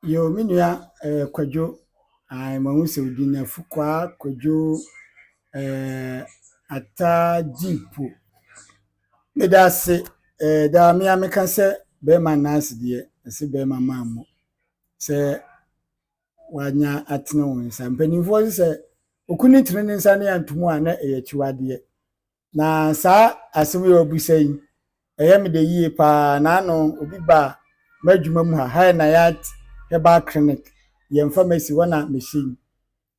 Yoo me nua ɛɛ Kwadwo ae mahu sɛ wo din no Afukwaa Kwadwo ɛɛ Attah Gyimpo. Meda ase ɛɛ daa me ara meka sɛ bɛɛma nna ase deɛ ɛse bɛɛma maa mu sɛ wanya atene wo nsa. Mpaninfoɔ se sɛ okunu tene ne nsa ne anto mu a na ɛyɛ akyiwadeɛ. Na saa asɛm yi a wabisa yi, ɛyɛ me dɛ yie paa. Naano obi baa m'adwuma mu ha, High Nayat Herbal Clinic, yɛn pharmacy, hɔ na mehyɛ yi.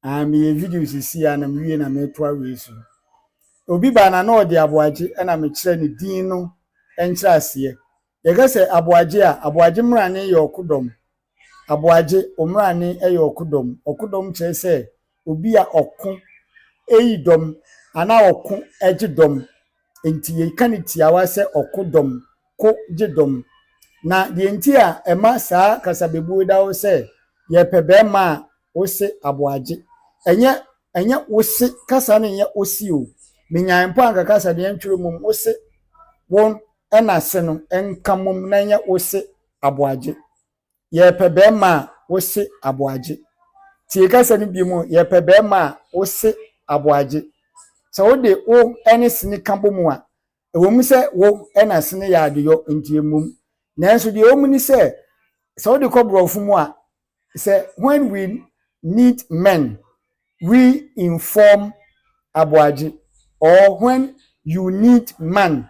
Ah, meyɛ video sisi a na mewie na metoa wei so. Obi baa na na ɔde aboagye na mekyerɛ ne din no nkyerɛaseɛ. Yɛka sɛ aboagye a, aboagye mmrane yɛ ɔkodɔm. Aboagye, Omrane yɛ ɔkodɔm. Ɔkodɔm kyerɛ sɛ obi a ɔko eyi dɔm anaa ɔko gye dɔm. Enti yɛka no tiawa sɛ ɔko dɔm, ko gye dɔm. Na deɛ nti a ɛma saa kasabebuo yi da hɔ sɛ yɛpɛ barima a wose aboagye. Ɛnyɛ ɛnyɛ wose kasa no nyɛ ose o. Menyae mpo anka kasa deɛ ntwerɛ mmom wose won ɛna se no nka mmom na ɛnyɛ wose aboagye. Yɛrepɛ bɛrima a, wose aboagye. Tie kasa no biom o, yɛrepɛ bɛrima a, wose aboagye. Sɛ wode wo ne sene ka bɔ mu a, ɛwɔ mu sɛ wo na sene yɛ adeyɔ nti ɛmmom. Nanso deɛ ɛwɔ mu ne sɛ, sɛ wode kɔ borɔfo mu a, sɛ when we need men we inform Aboagye or when you need man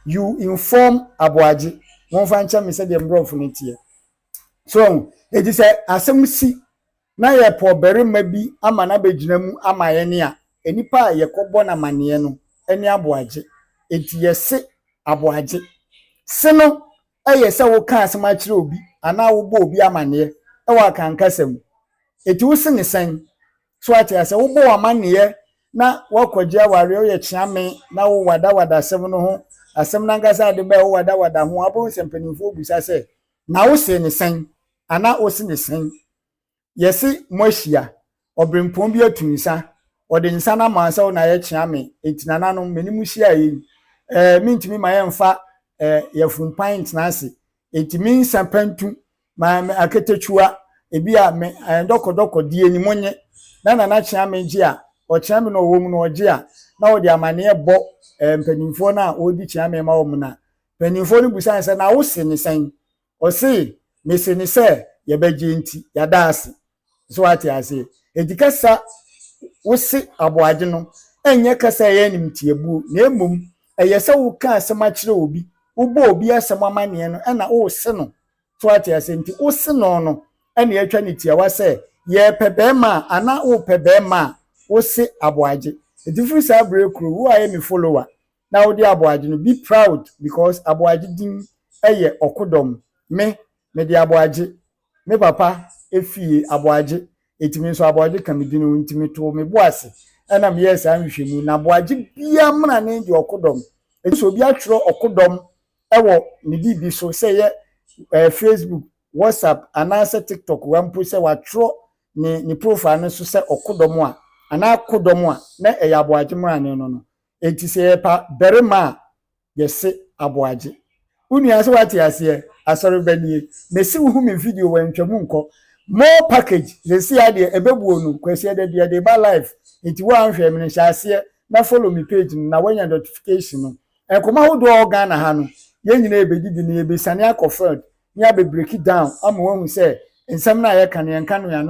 you inform Aboagye momfa nkyɛ me sɛdeɛ mborɔfo no teɛ so wahu enti sɛ asɛm si na yɛpɛ ɔbarima bi ama no abɛgyina mu ama yɛne a nnipa a yɛkɔbɔ no amanneɛ no ne Aboagye enti yɛse Aboagye se no Ɛyɛ sɛ woka asɛm akyerɛ obi anaa wobɔ obi amanneɛ wɔ Akan kasa mu. Enti wo se ne sɛn? So ate aseɛ? Wobɔ wo amanneɛ na woakɔgye awareɛ, woyɛ kyeame na wo wadawada asɛm no ho, asɛm no ankasa a ɛde baeɛ wo wadawada ho, wobɛhu sɛ mpanimfoɔ bisa sɛ, Na wo see ne sɛn? anaa wo se ne sɛn? Yɛse moahyia. Ɔberempɔn bi atu nsa. Ɔde nsa no ama sɛ wo na yɛkyea me enti nananom me ne mo hyiaeɛ yi eh, mentumi ma yɛmfa eh, yɛafumpan ntena ase enti me nsa pantu ma me akatakyiwa ebi a me eh, dɔkɔdɔkɔ die ni mo nye na nana kyea me gye a ɔkyea me na ɔwɔ mu na ɔgye a na ɔde amaneɛ bɔ eh, mpanimfoɔ no a wɔredi kyea me ma wɔn na mpanimfoɔ no busae sɛ na wo se ne sɛn Ɔse mese no sɛ yɛbɛgye nti yɛada ase so wate aseɛ enti kasa wose aboagye no ɛnyɛ kasa ɛyɛ animtiabuo na mmom ɛyɛ sɛ woka asɛm akyerɛ obi wobɔ obi asɛm amaneɛ no ɛna wose no so wate aseɛ nti wose no no ɛna yɛatwa ne tiawa sɛ yɛpɛ bɛɛma a ana wopɛ bɛɛma a wose aboagye enti firi saa berɛ kuro wo ayɛ me follower na wode aboagye no be proud because aboagye din yɛ ɔkodɔm me mede aboagye me papa fie aboagye eti me nso aboagye ka me din ho nti me too me bo ase ɛna me yɛɛ saa nhwehwɛmu na aboagye biaa mmra ne deɛ ɔkodɔm eti sɛ obi atwerɛ ɔkodɔm ɛwɔ ne biribi so sɛ yɛ ɛɛ facebook whatsapp anaasɛ tiktok wa mpo sɛ watwerɛ ne ne profile no so sɛ ɔkodɔm a anaa kodɔm a na ɛyɛ aboagye mmrane no no Enti sɛ yɛpa barima a, yɛse aboagye. Wo nua sɛ woate aseɛ? Asɔreba nie. Mese wohu me video wɔ ntwa mu nkɔ. More package seseaa deɛ ɛbɛbuo no Kwasi Adadi yɛde reba live enti wo a nhwɛɛ me no hyɛ aseɛ na follow me page no na woanya notification no. Nkɔmmɔ ahodoɔ a ɛwɔ Ghana ha no yɛn nyinaa yɛbɛdi bi na yɛbɛsiane akɔ field na yɛabɛ break it down ama woahu sɛ nsɛm no a yɛka no yɛnka no yɛn ano